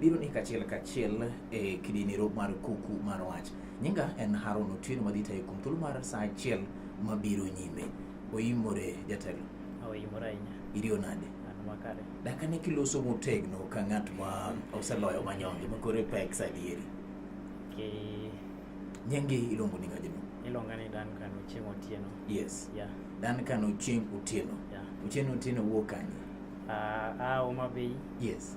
biro ni kachiel kachiel e kidinero mar kuku mar wach. Nyinga en Haron Otieno madhi tayo kuom thuolo mar saa achiel mabiro nyime. Oimore jatelo. Oimore ahinya. Iriyo nade? Makare. Daka ne kiloso motegno ka ng'at ma oseloyo manyonge ma kore pek sadieri. Okay. Nyange ilongo ni ngajino. Ilonga ni Dan Kano Chieng Otieno. Yes. Yeah. Dan Kano Chieng Otieno. Yeah. Otieno Otieno wuok kanye? Ah, uh, ah, Omabei. Yes.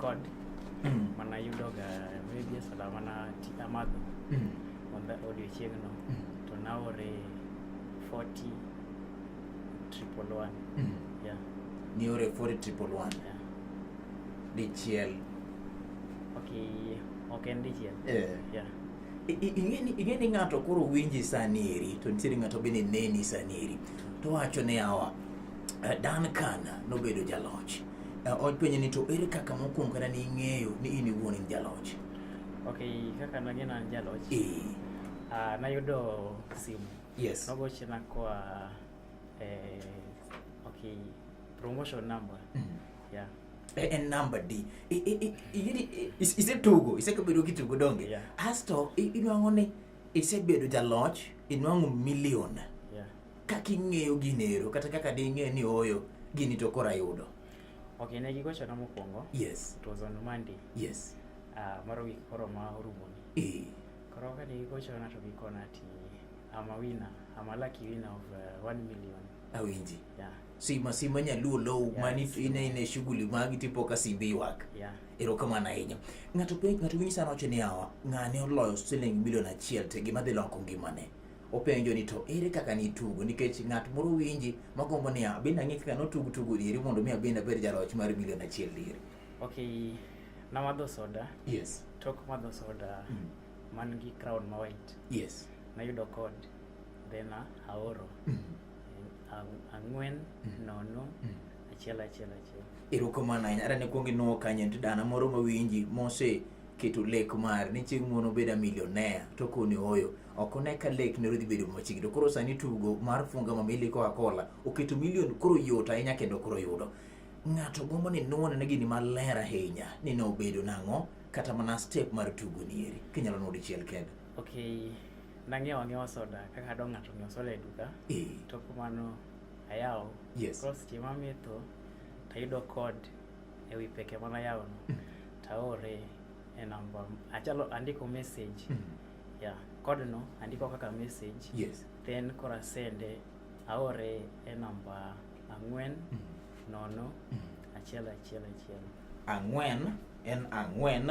God mm. mana yudoga media sala mana amadho mm. onda odiochieng'no mm. to naore 40 triple one mm. yeah. niore 40 triple one yeah. dichiel okay ok en dichiel yeah. yeah. ing'e ni ng'ato koro winji sani eri to nitiere ng'ato bende neni sani eri to wacho ni awa eh, Dan Kana nobedo jaloch Openjo ni to ere kaka mokwongo kata ning'eyo ni in iwuon in jaloch? Ok, kaka nang'eyo ni an jaloch. Eh. Ah, nayudo simu. Yes. Nogochna koa eh, ok, promotion number. Mm. Yeah. Eh, en namba di isetugo isekabedo kitugo donge yeah. asto inwang'o ni isebedo jaloch inwang'o milion yeah. kaka ing'eyo ginero kata kaka de ing'eyo ni oyo gini to koro ayudo okay ne gigochona mokwongo yes it was on monday yes uh, moro wik koro ma orumoni e. Eh. koro kane gigochona to gikona ti ama wina ama lucky wina of uh, one million awinji yeah. sima sima nyaluo low yeah, mani ine ine shughuli magi tipo ka simbi wak yeah. erokamano ahinya ng'ato ng'ato winyi sana wacho ni awa ng'ane oloyo siling milion achiel te gima dhi loko ngimane openjo ni to ere kaka nitugo nikech ng'at moro winji magombo ni ah, abende ang'e kaka notug tugo dieri mondo mi abende abed jaloch mar milion achiel dieri okay namadho soda yes tok madho soda mm. man gi crown ma white yes nayudo kod then ah, aoro mm. ang'wen mm. nono mm. achiel achiel achiel erokamano ahinya ara ne kuongi nuo kanyo nti dana moro mawinji mose keto lek mar ni chieng' mono beda millionaire to koni oyo ok one ka lek ne dhi bedo machiegni to koro sani tugo mar funga ma mili koa kola oketo milion koro yot ahinya kendo koro yudo ng'ato gombo ni nuone ne gini maler ahinya ni ne obedo nang'o kata mana step mar tugo nieri kinyalo nuo dichiel kendo okay nang'iewo ang'iewa soda kaka adwa ng'ato ng'iewo soda e duka eh. to kumano ayawo yes. koro seche mametho tayudo kod e wi peke mana yawono mm. taore e namba achalo andiko message mm. Yeah, code no andiko kaka message. Yes. Then kora sende aore e namba ang'wen mm -hmm. nono mm -hmm. achiel achiel achiel. Ang'wen en ang'wen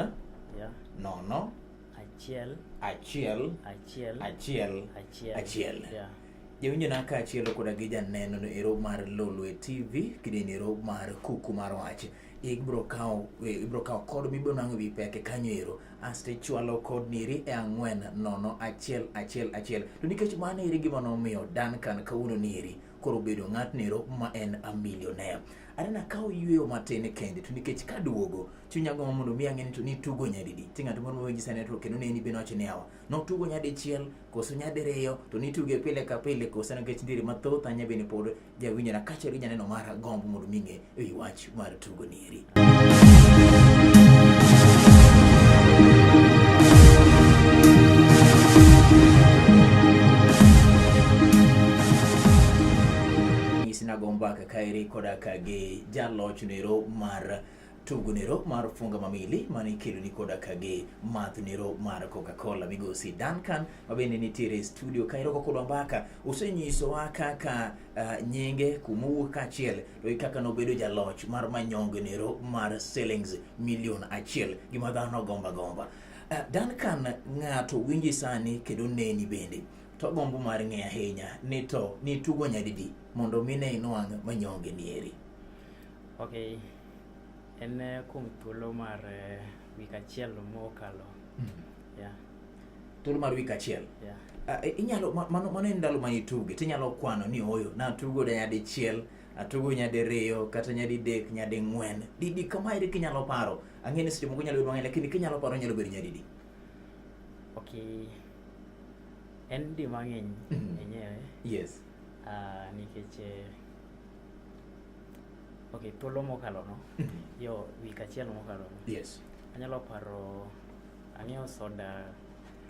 yeah. nono achiel achiel achiel achiel achiel achiel. Yeah. Jawinjo na kaachiel koda gi janeno no ero mar Lolwe TV kideni ero mar kuku mar wach. Ibro kawo ibro kawo kod mibro nango bi peke kanyo ero asto ichwalo kodni eri e ang'wen nono achiel achiel achiel to nikech mano eri gima nomiyo Duncan kawuono ni eri koro bedo ng'atnero ma en a millionaire anena ka oyueyo matin kende to nikech kaduogo chunya gombo mondo mi ang'e ni to nitugo nyadidi ti ng'ato moro mawinji sani to kendo neni bende wacho ni awa notugo nyadichiel koso nyadiriyo to nituge pile ka pile koso nikech ndiri mathoth anya bende pod jawinjo na kachiel gi janeno mara gombo mondo mi ng'e e wi wach mar tugo nieri. Nyisina gombaka kaeri koda ka gi jaloch nero mar tugunero mar funga mamili mane ikeloni koda kage mathnero mar coca-cola migosi duncan mabende nitiere e studio ka iroko kodwa mbaka usenyisowa kaka uh, nyinge kumowuok kaachiel to i kaka nobedo jaloch mar manyongenero mar sellings milion achiel gima dhano gomba gomba uh, duncan ng'ato winji sani kendo neni bende to gombo mar ng'e ahinya ni to nitugo nyadidi mondo mine inwang' manyonge nieri Ok, en eh, kuom thuolo mar eh, wik achiel mokalo. Yeah, thuolo mar wik achiel yeah. Ah, i- inyalo ma- mano mano en ndalo ma ituge tinyalo kwano ni oyo natugo da nyadichiel atugo nyadiriyo kata nyadidek nyading'wen didi kama eri kinyalo paro ang'e ni seche moko nyalo bedo mang'eny lakini kinyalo paro nyalo bedo nyadidi Ok, en di mang'eny Mhm. enyewe yes ah, nikech eh, ok thuolo mokalo no yo wik achiel mokalo no yes anyalo paro ang'iewo soda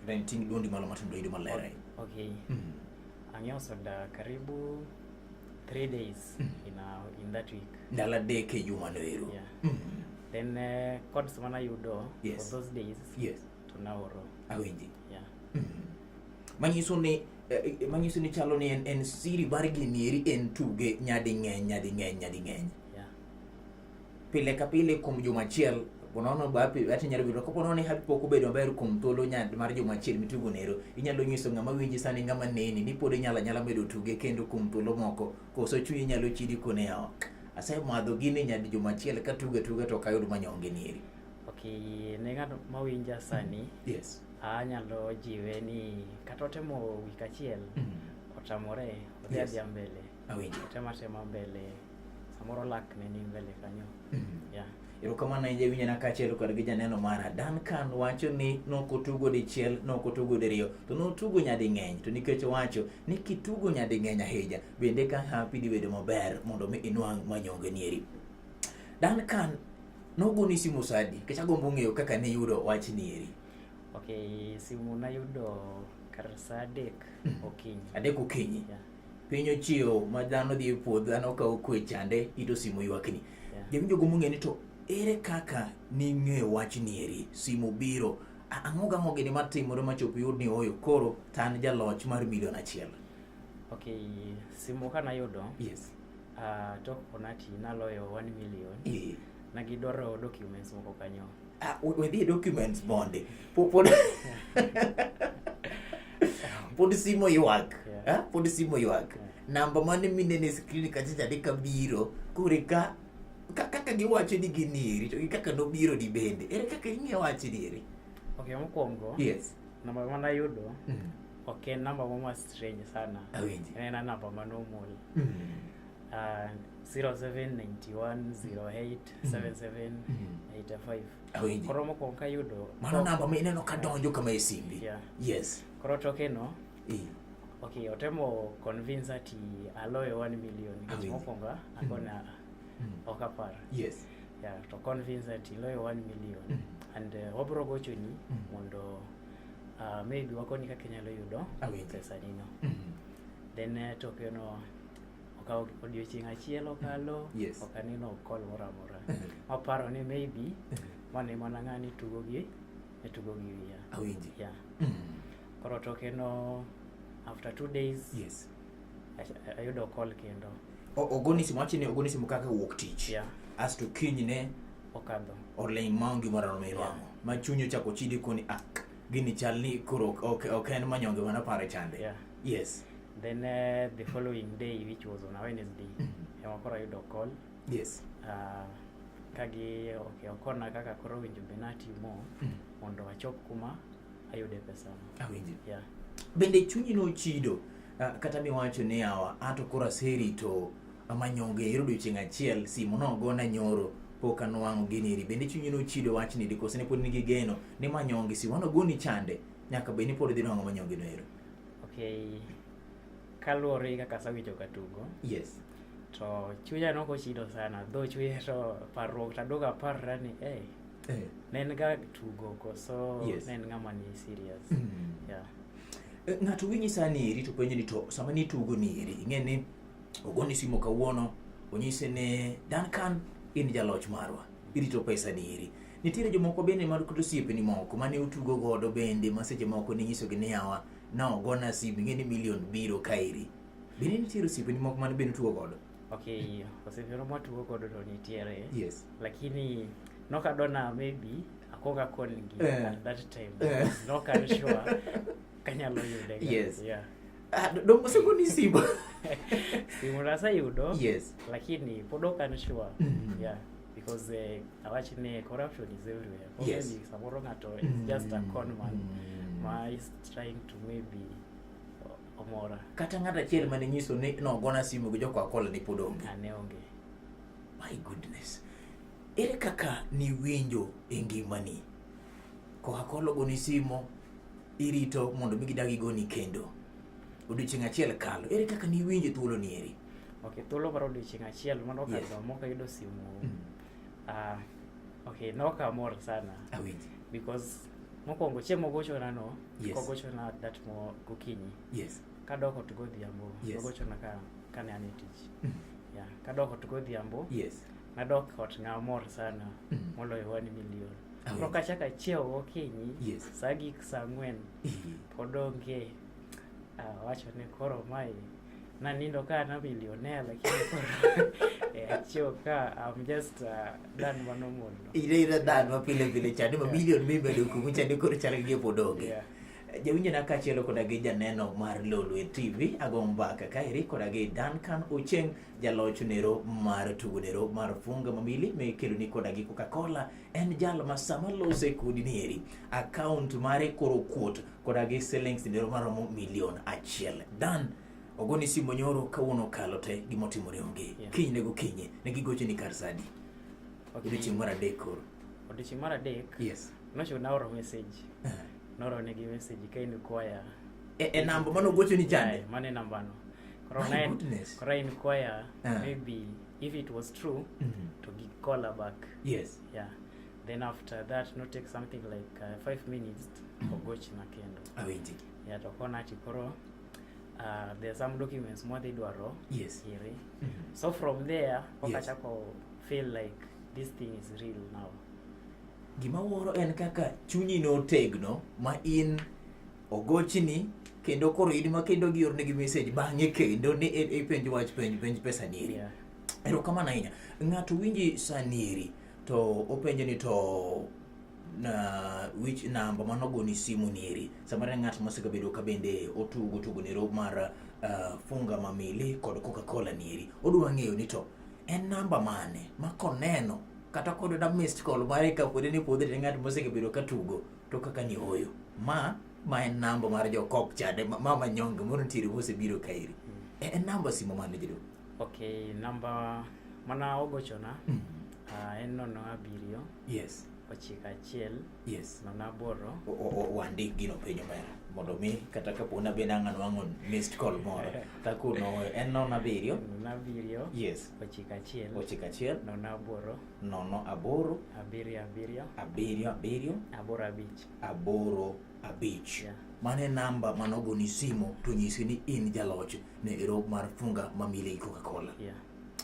then ting' dwondi malo matin doyudo maler eh? ok Mhm. ang'iewo soda karibu three days in, a, in that week ndalo adek e jumano ero Yeah. Mhm. then eh, codes manayudo Yes. for those days yes to naoro awinji Yeah. Mm. Manyiso ni eh, eh, manyiso ni chalo ni en, en siri mar ginieri en tuge nyadi ng'eny nyadi ng'eny nyadi ng'eny. Yeah. Pile ka pile kuom juma achiel ponono bapi ati nyalo bedo ko ponono ni happy pok obedo maber kuom thuolo nyad mar juma achiel mitugo nero inyalo nyiso ng'ama winji sani ng'ama neni ni pod inyalo nyala medo tuge kendo kuom thuolo moko koso chunyi nyalo chidi kone oko asemadho gini nyadi juma achiel katuga tuga to ok ayud manyonge nieri Okay, ne ng'at mawinja sani yes. anyalo jiwe ni kata otemo wik achiel mm. otamore odhi yes. adhia mbele otema tema mbele samoro lak ne ni mbele kanyo mm. yeah. erokamano ahinya winyo na kaachiel kod gi janeno mara Duncan wacho ni nokotugo dichiel nokotugo diriyo to notugo nyading'eny to nikech wacho ni kitugo nyading'eny ahinya bende ka hapi dibedo maber mondo mi inwang' manyongenieri Duncan Nogoni simu sadi, kech agombo ng'eyo kaka ne yudo wach nieri. Ok, simu nayudo kar sa adek hmm. okinyi. Adek okinyi? Yeah. Piny ochiewo ma dhano dhi e puodho, dhano kawo kwe chande, ito simu ywakni. Yeah. Jami jogo mong'e ni to ere kaka ning'eyo wach nieri, simu biro, ang'o gang'o gini matimore machopo yud ni oyo koro tan jaloch mar milion achiel? Ok, simu ka nayudo, yes. Ah, tok Onati naloyo 1 million. Eh. Na gidwaro documents moko kanyo. Ah, we dhi documents bonde. Pod pod simo ywak. Ah, pod simo ywak. Namba mane minene screen kacha jadi kabiro kure ka kaka giwacho ni ginieri to gi kaka nobiro di bende. Ere kaka ing'e wacho dieri? Okay, mokwongo. Yes. Namba ma nayudo mm. ok en namba moro ma strange sana. Awinji. En en namba ma normal. Mm. Uh, 0791087785. Awinji. Koro mokwongo kayudo. Mano namba ma ineno ka donjo kama e simbi. Yeah. Yes. Koro toke no. Eh. Okay, otemo convince ati aloyo 1 million. Mokwongo akona. Mm. mm. ok apar yes yeah, to convince that iloyo 1 million mm. and uh, wabro gochoni mm. mondo uh, maybe wakonyi kaka inyalo yudo pesanino mm. Mm-hmm. then uh, tokeno okawo odiochieng' achiel okalo mm. yes. ok aneno kol moro amora waparo ni maybe mm-hmm. mane mana ng'ani tugo gi e tugo gi wiya awinji yeah. mm. koro tokeno after two days yes. Ach- ayudo call kendo O- ogoni simu wachi ni ogoni simu kaka wuok tich Yeah. asto kinyne okadho oling' maonge moro amora miwang'o ma chunyi ochako chidi koni ah gini chal ni koro ok- ok ok en manyonge mana pare chande Yeah. yes then eh, the following day which was on a wednesday ema koro ayudo call yes Ah, kagi okay, okona kaka koro winjo be natimo mondo achop kuma ayude pesano awinji yeah. bende chunyi nochido Ah, kata miwacho ni awa ato koro aserito amanyonge ero odiochieng' achiel simu nogona nyoro pok anwang'o gini eri bende chunyi nochido wachni di kose ne pod nigi geno ni manyonge si wano goni chande nyaka bed ni pod idhi nwang'o manyonge no ero okay kaluwore kaka asewinjo ka tugo yes to chunya nokochido sana dho chunya to parruok tadogo aparra ni eh eh. ne en ga tugo koso yes. ne en ng'ama ni serious mm. yeah. Eh, ng'ato winyi sani eri to penjo ni to sama ni tugo ni eri ing'e ni ogoni simo kawuono onyise ne Duncan in jaloch marwa irito pesa ni eri nitiere jomoko bende mar kod osiepeni moko mane utugo godo bende ma seche moko ninyisogi ni yawa na ogona sim ing'e ni milion biro kaeri bende nitiere osiepeni moko mane bende utugo godo Okay, osivero mwatugo godo to nitiere. Yes. Lakini nokadona maybe akoga koni gi Eh. at that time. Eh. Nokan sure kanyalo yude. ga. Yes. Yeah. Ah, do- dongo siko ni simu. Simu nasayudo. Yes. Lakini pod okan sure. Mhm. Yeah. Because uh, awachi ni corruption is everywhere. Or Yes. Maybe samoro ng'ato is just a con man. Mm. ma is trying to maybe omora kata ng'ato achiel mane nyiso ni nogona simu gi jokwa kola ni pod onge ane onge my goodness ere kaka niwinjo e ngimani koka kola ogoni simo irito mondo mi gidagi goni kendo odiochieng' achiel kalo ere kaka niwinjo thuolo ni eri okay thuolo mar odiochieng' achiel mano okalo yes. moka yudo simu mm. uh, okay nokamor sana Awinji. because Mokwongo chieng' mogochona no, yes. kogochona that mo gokinyi. Yes. Kadok ot godhiambo, yes. kogochona ka kane an e tich. Mm. Yeah, kadok ot godhiambo. Yes. Nadok ot ngamor sana mm. moloyo wani milion. Oh. Koro kachako achiewo gokinyi, yes. saa gik saa ang'wen, mm. pod onge uh, wacho ni koro mae nanindo ka na billionaire lakini eh, achio ka I'm just uh, dan mano mondo ile ile dan ma pile pile chani ma million mi bedo kumu chani koro chal gi podonge yeah. jawinjo na kachielo koda gi janeno mar lolwe tv ago mbaka kaeri koda gi duncan ocheng jaloch nero mar tugo nero mar funga mamili mekeloni koda gi coca-cola en jal ma sama lose kodi nieri akaunt mare koro kuot koda gi silings midoro maromo milion achiel dan ogoni simo nyoro kawuono kalo te gima otimore onge yeah. kiny ne gokinye ne gigoche ni kar sadi okay. odiochieng' mar adek koro odiochieng' mar adek yes nocho naoro message uh -huh. naoro negi message ka in kwaya e, e namba mano gocho ni chande yeah, mano e nambano koro koro in kwaya uh -huh. maybe if it was true mm -hmm. to gi call back yes yeah Then after that no take something like uh, five minutes mm. ogoch na kendo awinji ah, ya to kona ati koro uh, there are some documents more they dwaro yes here mm -hmm. so from there wakachako yes. feel like this thing is real now gima wuoro en kaka chunyi no tegno ma in ogochini kendo koro in ma kendo giornegi message bang'e kendo ni ipenj e, e wach penj penj pesa nieri yeah. erokamano ahinya ng'ato winji sanieri to openje ni to na which number mano goni simu nieri samara ng'at mosegabedo ka bende otugo tugo nero mar uh, funga mamili kod coca-cola nieri odwa ng'eyo ni to en namba mane ma koneno kata kod da missed call mare ka pod ni podhe ng'at mosegabedo ka tugo to kaka ni oyo ma ma en namba mar jo kok chade ma manyonge mono ntiere mosebiro kaeri mm. e, en namba simo mane jadolo Okay, namba mana ogochona mm. uh, en nono abiriyo yes ochiko achiel yes nono aboro wandik gino penyo mera mondo mi kata kapo nabed ang' anwang'o missed call moro takuno en nono abiriyo nono abiriyo yes ochiko achiel ochiko achiel nono aboro nono aboro abiriyo abiriyo abiriyo abiriyo aboro abich aboro abich Yeah. mano e namba mane ogoni simo to nyisi ni in jaloch ne ero mar funga ma mili coca cola Yeah.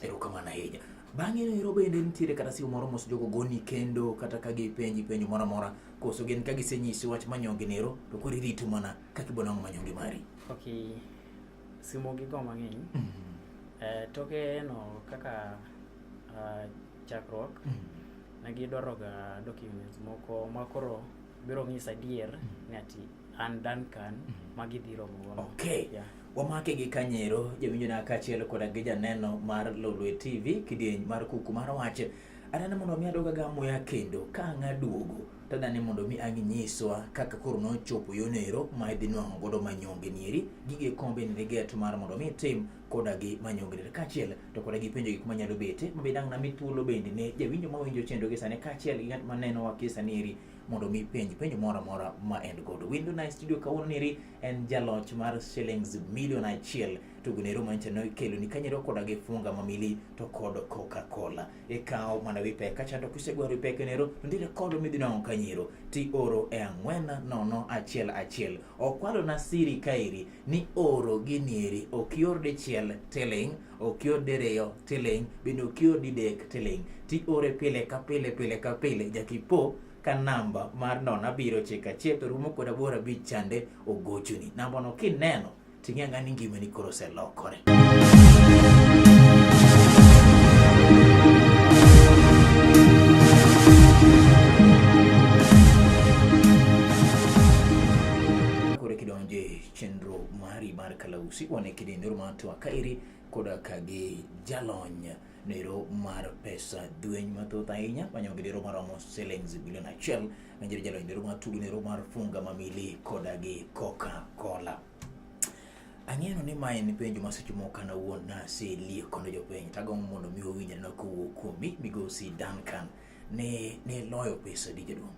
erokamano ahinya bang'e no ero bende nitiere kata simo moro mos jogo goni kendo kata ka gipenji penjo moro amora koso gin ka gisenyisi wach manyonge no ero to koro irito mana kaka ibo nang'o manyonge mari Okay. Simo gi go mang'eny. Eh, toke no kaka ah, chakruok ne gidwaroga documents moko ma koro biro ng'isa adier mm-hmm. ni ati an Duncan mm-hmm. ma gidhi romo godo. Okay. Yeah. Wamake gi kanyero jawinjo na kaachiel koda gi janeno mar Lolwe TV kidieny mar kuku mar wach. Adane mondo mi adoga ga muya kendo ka ang' aduogo to adane mondo mi ang' inyiswa kaka koro nochopo yonero ma idhi nwang'o godo manyonge nieri gige kombe ni get mar mondo mi itim koda gi manyongre kaachiel to koda gi penjo gik manyalo bete ma be dang' nami thuolo bende ne jawinjo ma winjo chendo gi sani kaachiel gi ng'at ma neno wa gi sani eri mondo mi penj penjo moro amora ma en godo. Window Night Studio kawuono neri en jaloch mar shillings milion achiel to gunero mancha ne kelo ni kanyero koda gi funga mamili to kod Coca-Cola. Ikawo mana wi pek kacha to kisegwaro wi pek nero to ndire kodo midhi nong'o kanyero ti oro e ang'wen nono achiel achiel. Okwalo na siri kairi ni oro gini eri ok ior dichiel tiling' ok ior diriyo tiling' bende ok ior didek tiling' tiore pile ka pile pile ka pile jakipo ka namba mar non abiro chika achiel to rumo kod aboro abich chande ogochoni nambano kineno ting'e ang'a ni ngimani koro oselokore je chenro mari mar kalausi wane kidendero mar twaka iri koda ka gi jalony nero mar pesa dweny mathoth ahinya manyo gidero maromo silings bilion achiel manjere jalony nero mar tugo nero mar funga mamili koda gi coca cola ang'eno ni mae en penjo ma seche moko an awuon naselie kono jopiny tagombo mondo mi owinjre na kowuok kuomi migosi Duncan ne ne loyo pesa di jaduong'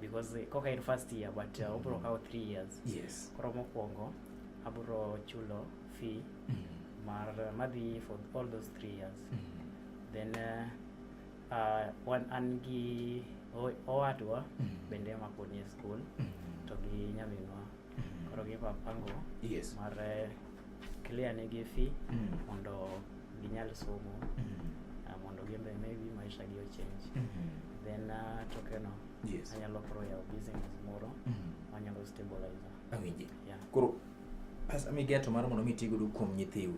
because eh, koka in first year but uh, obro kawo 3 years yes koro mokwongo abro chulo fee mm. mar madhi for all those 3 years mm. then uh, uh, wan an gi o- owadwa Mm. bende makoni e school Mm. to gi nyaminwa Koro gi pango yes. mar eh, clear ne gi fee mm. mondo ginyal somo mm. uh, mondo gimbe maybe maisha gi ochange mm -hmm. then uh, tokeno yes. anyalo koro yawo business moro mm -hmm. manyalo stabilizer awinji yeah. koro pesa migeto mar mondo mitigodo kuom nyithiu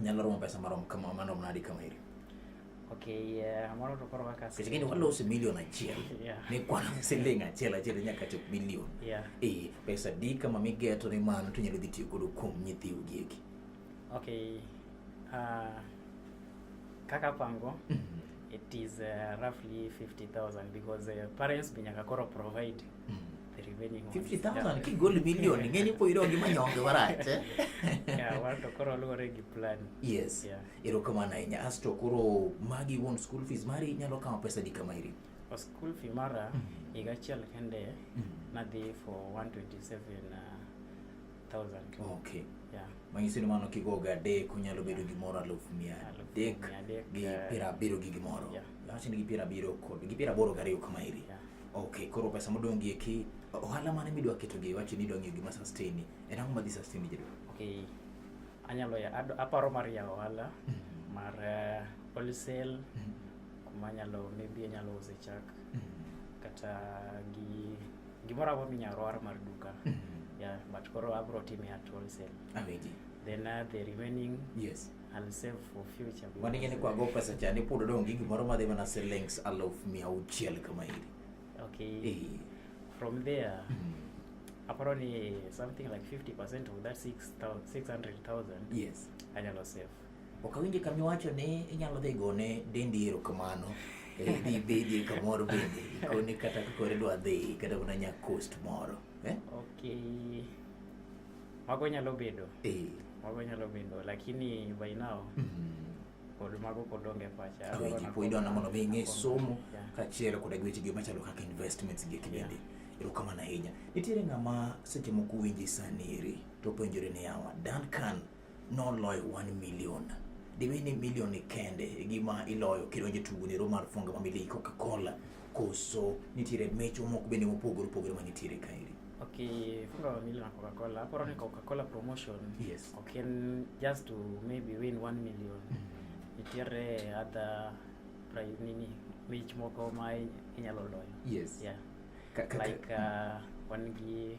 nyalo romo pesa marom kama marom nadi kama iri Okay, yeah, moro to koro waka sasa. Kile wala usi milioni achiel. Yeah. Ni kwa siling achiel achiel nyaka chop milioni. Yeah. Eh, pesa di kama migeto ni mano to nyalo dhi tiyo godo kuom nyithi ugieki. Okay. Uh, kaka pango mm -hmm. it is uh, roughly 50000 because uh, parents binyaka koro provide mm -hmm. Revenge Horns. 50,000 kigol million ing'e ni pod idong' gi manyonge marach eh? Yeah, wan to koro luwore gi plan. yes Yeah. erokamano ahinya asto koro magi wuon school fees mari inyalo kawo pesa di kama iri O school fee mara higa achiel kende nadhi for 127 uh, Okay. Yeah. Manyiso ni mano kigogo adek onyalo bedo gimoro alufu mia adek gi eh, piero abiro gi gimoro. Yeah. Lawach ni gi piero abiro kod gi piero aboro gariyo kama iri. Yeah. Okay, koro pesa modong' gi eki ohala mane midwa keto gi wacho ni idwa ng'iyo gima sustain ni. En ang'o madhi sustain ni jadwa? Okay. Anyalo ya aparo mar ya ohala mm-hmm. mar eh, wholesale mm-hmm. kuma nyalo maybe anyalo use chak mm-hmm. kata gi Gimoro amora minyalo roar mar duka. Mm-hmm. Yeah, but koro abro time at wholesale. Awinji. Then uh, the remaining yes. I'll save for future. Mani ngene kwa go pesa chani pudo dongi gimoro madhi mana shillings aluf mia auchiel kama hili. Okay. Eh. From there, mm -hmm aparo ni something like 50% of that 600,000 yes anyalo save Ok awinje ka miwacho ni inyalo dhi gone dendi erokamano. Eh, dhi bedi kamoro bende ikone kata kakore dwa dhi kata mana nya coast moro. Eh? Okay. Mago nyalo bedo. Eh. Mago nyalo bedo lakini by now. Mm -hmm. kod mago pod onge pacha awe ji po idona mondo mi ng'e somo kaachiel koda gi wechegi machalo kaka investments gi kibende erokamano ahinya nitiere ng'ama seche moko winji sani eri to penjore ni yawa Duncan noloyo 1 million dibed ni milion ni kende e gima iloyo kidonjo e tugo nero mar funga ma milii coca-cola koso nitiere mecho moko bende mopogore opogore ma nitiere kaeri Okay, funga wa milioni na Coca-Cola. Hapo ni Coca-Cola promotion. Yes. Okay, n- just to maybe win 1 million. Nitiere other prize nini mich moko ma inyalo loyo. yes Yeah. Ka- ka- ka- Like uh, wan gi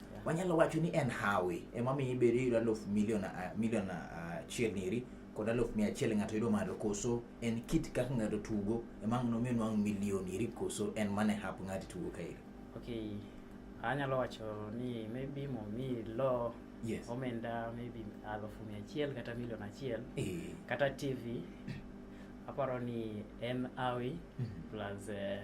Wanyalo wacho ni en hawi ema miyo ibedo yudo aluf milion ah, milion ah, achiel niri kod aluf mia achiel ng'ato yudo malo koso en kit kaka ng'ato tugo ema ang' nomiyo nwang' milion iri koso en mane hap ng'ato tugo ka iri. Okay, anyalo wacho ni maybe momi lo Yes. omenda maybe alufu mia achiel kata milion achiel Eh. kata tv aparo ni en awi Mhm. plus eh,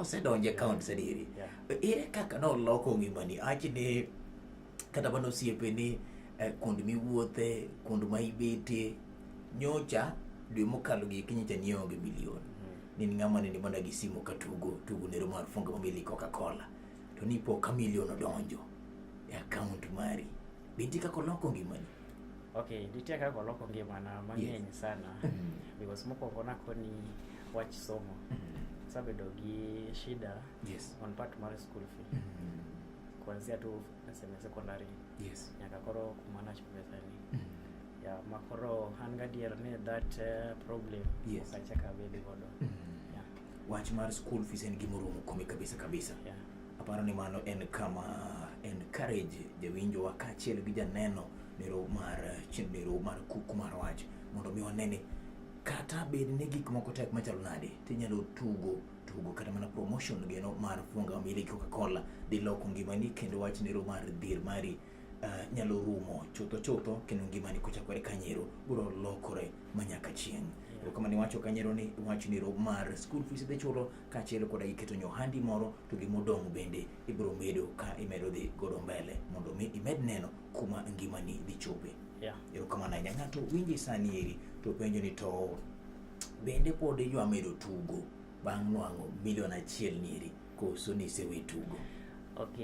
osedonje account sadiri ere kaka noloko ngimani achi ni kata mana osiepe ni eh, kuond miwuothe kuond ma ibetie nyocha dwe mokalo gi kinyicha nionge milion hmm. ni ng'ama nende mana gi simu ka tugo tugo nero mar funga mamili coca cola to ni po ka milion odonjo e account mari binti kaka oloko ngimani Okay, nitie kaka oloko ngimana mang'eny yes. sana mm. because mokwongo nakoni wach somo mm. sabedo gi shida yes. on part mar school fee mm -hmm. kuanzia tu naseme secondary yes. nyaka koro kumana chupesani mm -hmm. ya makoro an gadier ni that uh, problem yes. okachaka bedi godo mm -hmm. yeah. wach mar school fees en gimoromo kome kabisa kabisa yeah. Aparo ni mano en kama encourage jawinjowa kaachiel gi janeno nero mar chenro mar kuku mar wach mondo mi wane ni kata bed ni gik moko tek machalo nade tinyalo tugo tugo kata mana promotion geno mar funga mili Coca-Cola diloko ngimani kendo wach nero mar dhir mari uh, nyalo rumo chutho chutho kendo ngimani kochakore kanyero biro lokore ma nyaka chieng' yeah. kama niwacho kanyero ni wach ni rob mar school fees dhi chulo kaachiel koda iketo nyohandi moro to gimodong' bende ibiro medo ka imedo dhi godo mbele mondo mi imed neno kuma ngimani dhi chope yeah. erokamano ahinya ng'ato winji sani eri to penjo ni to bende pod idwa medo tugo bang' nwang'o milion achiel nieri koso nisewe tugo ok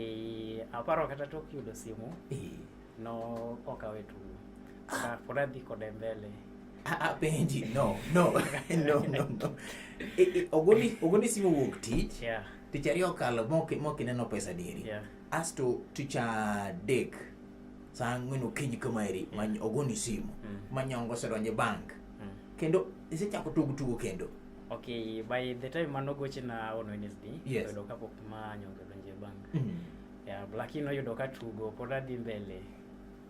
aparo kata tok yudo simu eh. no ok awe tugo ah. pod adhi kode mbele apenji ah, ah, no no no no no e, e, ogoni ogoni simu wuok tich yeah. tich ariyo okalo mok ineno pesa dieri yeah. asto tich adek saa ang'wen okinyi kamaeri yeah. ogoni simu mm. manyongo osedonje bank mm. kendo isechako tugo tugo kendo Okay, by the time mano goche na on Wednesday, yes. Yudo ka pok ma nyonge donje bang. Mm -hmm. Yeah, Blackie no yudo ka tugo pod adhi mbele.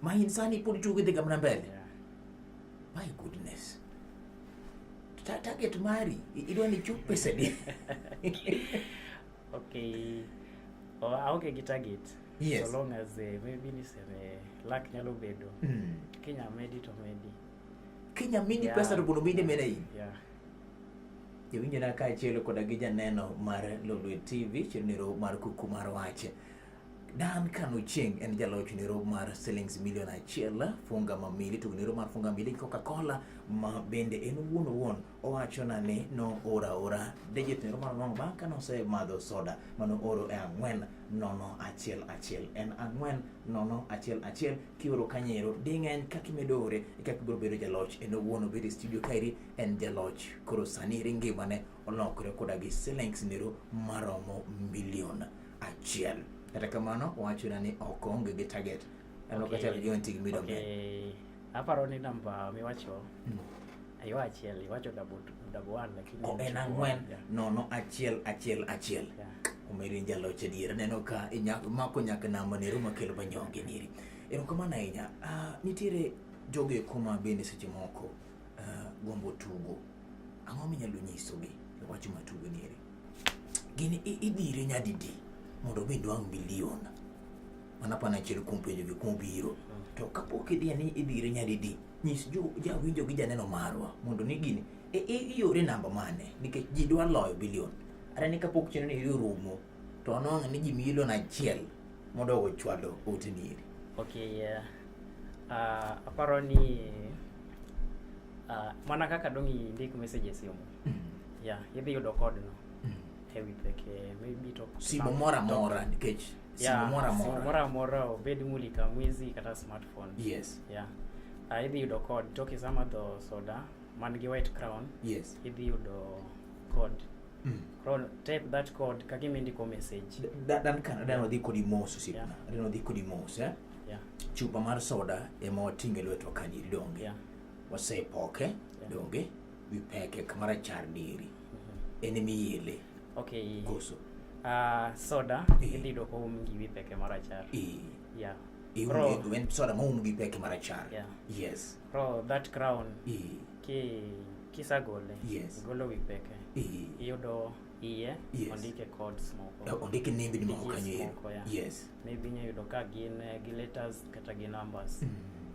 Ma insani pod tugo idhi gamna mbele. Yeah. My goodness. Ta target mari idwa ni chup pesa di. okay. Oh, aonge gi target. Yes. So long as uh, maybe niseme luck nyalo bedo. Mm. Kenya medi to medi. Kenya medi yeah. pesa to bono medi mena hii. Yeah. jowinjona kaachiel koda gi janeno mar Lolwe TV chenro mar kuku mar wach Dan Kanu Cheng en jaloch nero mar silings milion achiel funga mamili to nero mar funga mili Coca-Cola ma bende en wuon wuon owacho na ni no ora ora digit nero mar nono bang' kane osemadho soda mano oro e ang'wen nono achiel achiel en ang'wen nono achiel achiel kioro kanyero ding'eny kaka imedo ore e kaka ibiro bedo jaloch en owuon obet e studio kaeri en jaloch koro sani eri ngimane olokre koda gi silings nero maromo milion achiel kata kamano wachona ni ok onge gi target ano kata gi onti gi mido me aparo ni namba miwacho hmm. ayo achiel iwacho double double one lakini oh, en ang'wen nono achiel achiel achiel omeri jaloch adier neno ka mako nyaka namba nero makelo manyonge niri erokamano ahinya ah, nitiere jogo ekoma bende seche moko uh, gombo tugo, ang'o minyalo nyisogi e wach ma tugo nieri? Gini idhire nyadidi mondo mi dwang' milion? Mana pana achiel kuom penjo gi kuom biro. To kapok idhiye ni idhire nyadidi, nyis jo jawinjo gi janeno marwa mondo ni gini e, e, iore namba mane nikech ji dwa loyo bilion. Are ni kapok chenro ni irumo to anwang'o ni ji milion achiel modogo ochwalo oteni eri okay yeah. uh, aparo ni uh, mana kaka dong indik message e simu mm. yeah idhi yudo code no mm. e wi peke maybe to simu moro amora nikech simu moro amora simu moro amora obed mulika mwizi kata smartphone yes yeah uh, idhi yudo code toki sama dho soda man gi white crown yes idhi yudo code mm. koro type that code ka gima indiko message dan kana dan odhi kodi mos osipna dan odhi kodi mos eh yeah. chupa mar soda ema watinge lwetwa kanyiri donge yeah. wasepoke yeah. donge wipeke kamara char diri mm -hmm. en miyele okay koso uh, soda e. idhi yudo ka oum gi wipeke marachar e. yeah soda ma oum gi peke marachar yeah. yes Bro, that crown e. ki kisagole yes. igolo wi peke iyudo iye yes. ondike codes moko eh, ondike nembi ni moko kanyo moko ya yes maybe inya yudo ka gin eh, gi letters kata gi numbers mm.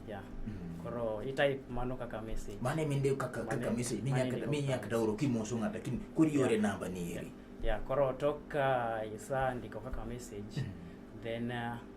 yeah mm. koro i type mano kaka message mane minde kaka kaka message minya kata minya kata oro kimoso ngata kin kuri yore yeah. namba ni eri yeah. yeah koro toka isa ndiko kaka message mm. then uh,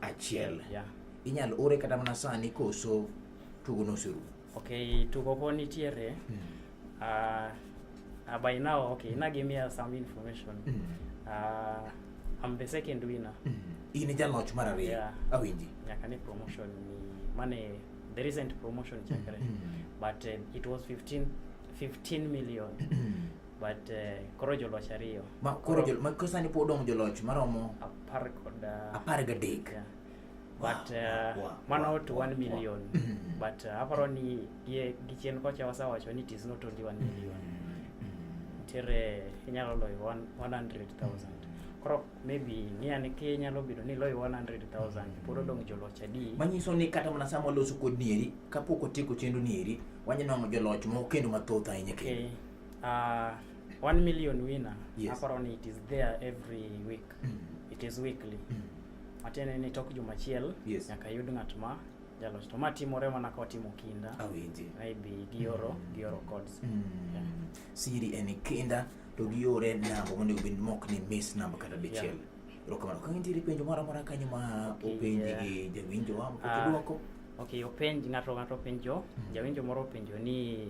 achiel yeah. inyalo ore kata mana sani koso tugo noserumo okay tugo po nitiere mm. uh, uh, by now okay ina give me uh, some information mm. uh, I'm the second winner mm. in e jaloch mar ariyo yeah. awinji nyaka ni promotion ni mane the recent promotion chakre mm. but uh, it was 15 15 million but uh, koro joloch ariyo ma koro jol, ma koro sani pod odong' joloch maromo apar kod uh, apar gadek yeah. but uh, wow, wow, mano wow, to wow, one million wow. Mm-hmm. but uh, aparo ni gi gi chien kocha wasewacho ni it is not only one million mm-hmm. ntiere inyalo loyo 100000 koro maybe ng'iya ni ki inyalo bedo ni loyo 100000 pod odong' joloch adi manyiso ni kata mana sama waloso kod nieri kapok otieko chenro nieri wanyanwang'o joloch moko kendo mathoth ahinya kendo okay. Uh, one million winner yes. aparo ni it is there every week mm. it is weekly mm. matiende ni tok juma achiel yes. nyaka yud ng'at ma jaloch to ma timore mana ka watimo kinda awinji ah, maybe gioro mm. gioro codes mm. yeah. siri en kinda to giore namba monego bed mok ni miss namba kata dichiel yeah. erokamano ka nitiere penjo moro amora kanyo ma okay, openji yeah. gi jawinjowa mokokidwoko ah, uh, okay openj ng'ato ng'ato openjo mm. jawinjo moro openjo ni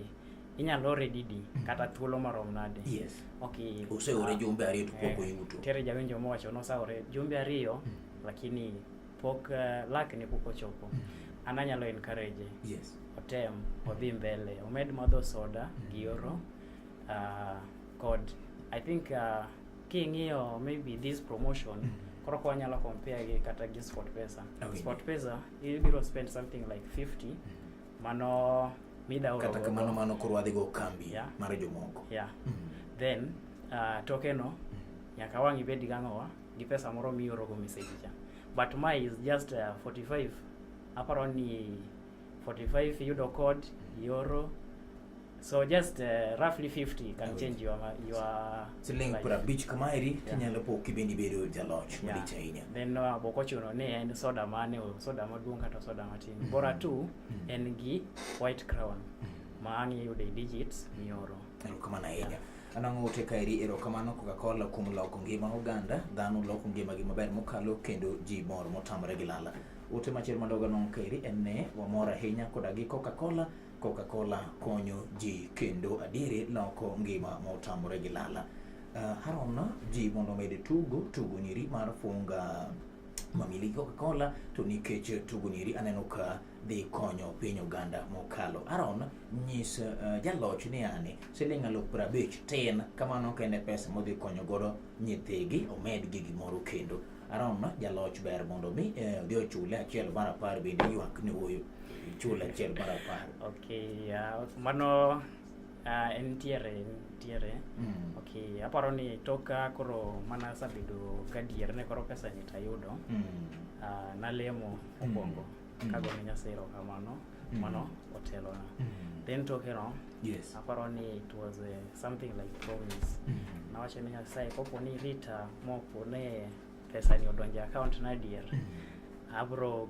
inyalo ore didi mm. kata thuolo marom nade yes. okay. useore uh, jumbe ariyo to pok eh, oyuto tere jawinjo mowacho nosaore jumbe ariyo mm. lakini pok uh, lak ne pok ochopo mm. an anyalo encourage yes. otem mm. odhi mbele omed madho soda mm. gi oro uh, kod i think uh, king'iyo maybe this promotion mm. koro kwa nyalo compare gi kata gi sport pesa oh, sport pesa ibiro spend something like 50 mm. Mano midawo kata kamano mano koro wadhi go kambi yeah. mar jomoko yeah. mm -hmm. then uh, toke no mm-hmm. nyaka wang' ibed gang'owa gi pesa moro miorogo message cha but my is just uh, 45 aparo ni 45 yudo code ioro So just uh, roughly 50 can Awit. change your your siling life. pra bich kamaeri yeah. kinyalo po kibendi bedo jaloch yeah. malich ahinya. Then no uh, boko chuno ni en soda mane o soda maduong kata soda matin. Mm -hmm. Bora tu mm -hmm. en gi white crown. Mm -hmm. Maang yude digits mioro. Erokamana ahinya. Yeah. Anang' ote kaeri erokamano Coca-Cola kuom loko ngima oganda. Dhano loko ngima gi maber mokalo kendo ji mor motamre gi lala. Ote machielo madogo anong' kaeri en ne wamor ahinya koda gi Coca-Cola Coca-Cola konyo ji kendo adieri loko ngima motamore gi lala. Uh, eh, Harona ji mondo omed tugo tugo nyiri mar funga mamili Coca-Cola to nikech tugo nyiri aneno ka dhi konyo piny Uganda mokalo. Aaron nyis uh, jaloch ni ani siling aluf prabich tin kamano kende pesa modhi konyo godo nyithigi omed gi gimoro kendo. Arom jaloch ber mondo mi eh, odhi ochule achiel mar apar bende ywak ni wuoyo chule achiel mar apar. Okay, uh, mano uh, en tiere tiere. Mm. Okay, aparo ni toka koro mana asabedo gadier ne koro pesa ni tayudo. Mm. Uh, nalemo okwongo. Mm. mm. kago ne Nyasaye erokamano mm. mano otelona mm. then tokeno yes. aparo ni it was uh, something like promise mm. nawacho ni Nyasaye kopo ni rita mopo ne pesa ni odonje account na adier mm. abro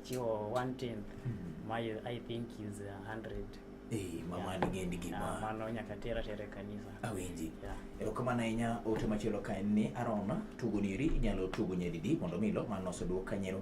chiwo one tenth mm. my I think is a hundred Eh, mama yeah. nigeni gima yeah, mano nyaka tera tere kanisa awinji yeah. erokamano ahinya ote machielo ka en ni arona tugo niri inyalo tugo nyadidi mondo milo mano oseduok kanyero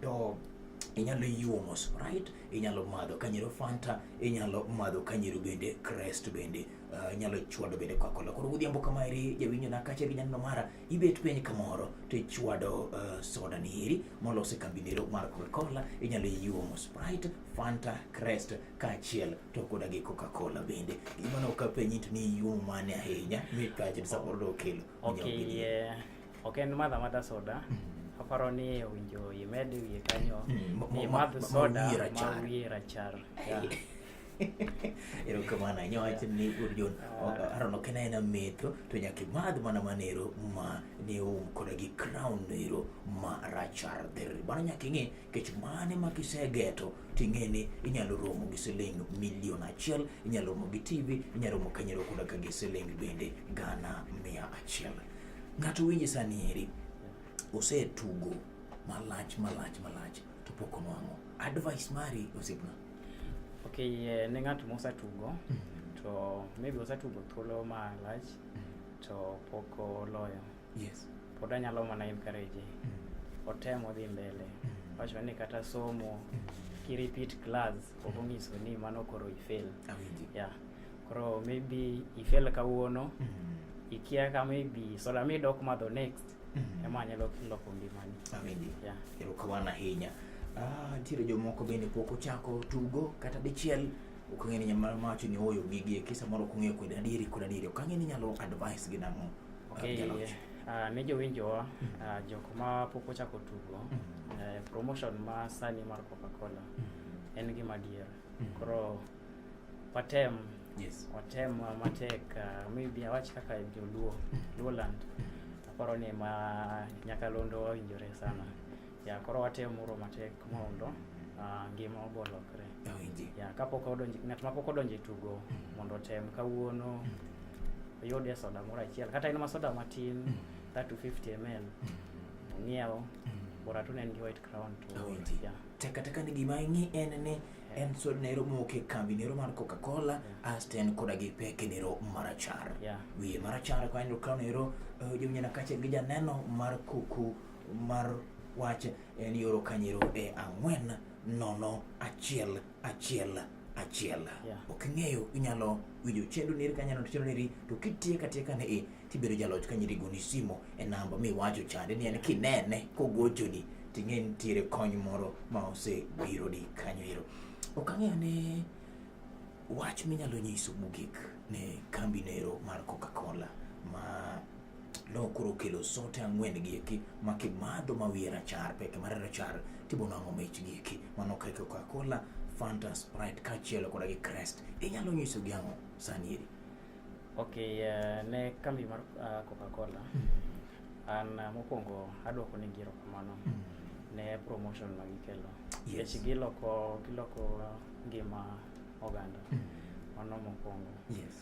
to inyalo yiwo mos right inyalo madho kanyero fanta inyalo madho kanyero bende crest bende uh, inyalo chwado bende coca-cola koro godhiambo kama eri jawinjo na kacha gi nyanno mara ibet piny kamoro to ichwado uh, soda ni eri molos e kambinero mar coca-cola inyalo yiwo mos right fanta crest kaachiel to koda gi coca-cola bende gimano ka penyi to ni yiwo mane ahinya mit kaachiel samoro dokelo okiye ok en madha madha soda mm-hmm. aparo ni owinjo imed wiye kanyo mm, ni madh soda ma wiye rachar erokamano ahinya wach ni urjon arono kena en ametho to nyaka imadh mana manero ma ne oum koda gi crown ero ma rachar dherri mano nyaka ing'e kech mane ma kisegeto ting'e ni inyalo romo gi siling milion achiel inyalo romo gi tv inyalo romo kanyero koda ka gi siling bende gana mia achiel ng'ato winji sani eri osetugo malach malach malach to pok onwang'o advice mari osiepna okay eh, ne ng'ato mosetugo mm. to maybe osetugo thuolo malach mm. to pok oloyo yes. pod anyalo mana encourage mm. otemo dhi mbele mm. wacho ni kata somo mm. ki repeat class ok onyiso ni mano koro ifail yeah. koro maybe ifail kawuono mm. ikia ka maybe soda mi dok madho next mm. ema anyalo loko ngimani yeah. erokamano ahinya ah, ntiere jomoko bende pok ochako tugo kata dichiel ok ong'e ni nyamara mawacho ni oyo gigi kisa moro ok ong'eyo kod adieri kod adieri ok ang'e ni nyalo advice gi nang'o Okay. Uh, ne jowinjowa uh, jok ma pok ochako tugo uh, promotion ma sani mar coca-cola mm. en gima dier mm. koro watem yes. watem uh, matek uh, maybe awach kaka joluo mm. luoland aparo ni ma nyakalondo wawinjore sana ya koro watemo muro matek mondo uh, ngima obo lokre Awinji. ya kapok odonjo ng'at ma pok odonjo e tugo mondo otem kawuono oyudie soda moro achiel kata en ma soda matin kata 250 ml ong'iew bora tu ne en gi white crown to Awinji. ya Taka taka ni gima ing'i en ni en sod nero moke kambi nero mar Coca-Cola asto en koda gi peke nero marachar. Yeah. Wiye marachar kwa nero crown nero eh, jomnyana kachiel gi janeno mar kuku mar wach en yoro kanyero e ang'wen nono achiel achiel achiel yeah. ok ing'eyo inyalo winjo chendo neri ka nyalo chendo neri to kitieka tieka ne e tibedo jaloch ka nyiri goni simo e namba miwacho chande ni en kinene kogochoni ting'e nitiere kony moro ma osebiro di kanyo ero ok ang'eyo ne wach minyalo nyiso mogik ne kambi nero mar coca cola ma nokoro kelo sote ang'wen gieki ma kimadho ma wiye rachar peke mare rachar tibono ang'o mich gieki mano kaka Coca-Cola, Fanta, Sprite kaachiel koda gi Crest. Inyalo nyiso gi ang'o sani eri? Okay, uh, ne kambi mar uh, Coca-Cola hmm. an uh, mokwongo adwoko ni giro kamano hmm. ne promotion ma gikelo yes. Yes. giloko giloko ngima oganda hmm. mano mokwongo yes.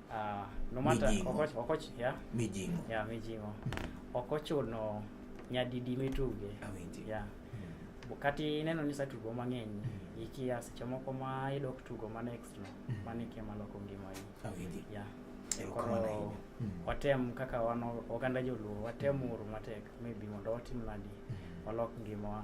Uh, no matter, mijingo. Okoch, okoch, yeah? Mijingo. Yeah, mijingo. Mm. Ok ochuno nyadidi mituge. Awinji. Yeah. Mm. Kati ineno ni satugo mang'eny mm. ikia seche moko ma idok tugo ma next no mm. mane ikia maloko ngimani. Awinji. Yeah. Koro mm. watem kaka wan oganda joluo watem mm. uru matek maybe mondo watim nadi mm. walok ngimawa.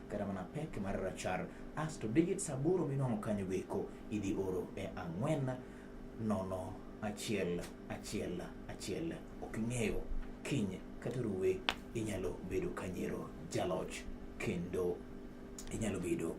kata mana pek mar rachar asto digits aboro minwang'o kanyo goeko idhi oro e ang'wen nono achiel achiel achiel ok ing'eyo kiny kata ruwe inyalo bedo kanyero jaloch kendo inyalo bedo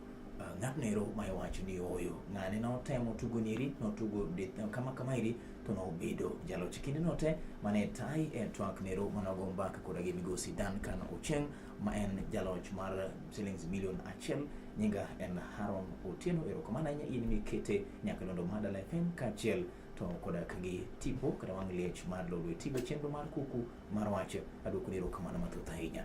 uh, ng'atno ero ma iwacho ni oyo ng'ane notemo tugo niri notugo kama kama iri to nobedo jaloch kinde note mane tai e twak nero manogo mbaka koda gi migosi Duncan Ocheng ma en jaloch mar shillings milion achiel. Nyinga en Haron Otieno. Erokamano ahinya in mikete nyaka londo Madala FM kaachiel to koda gi tipo kata wang' liech mar lolwe tigo chenro mar kuku mar wach. Aduoko ni erokamano mathoth ahinya.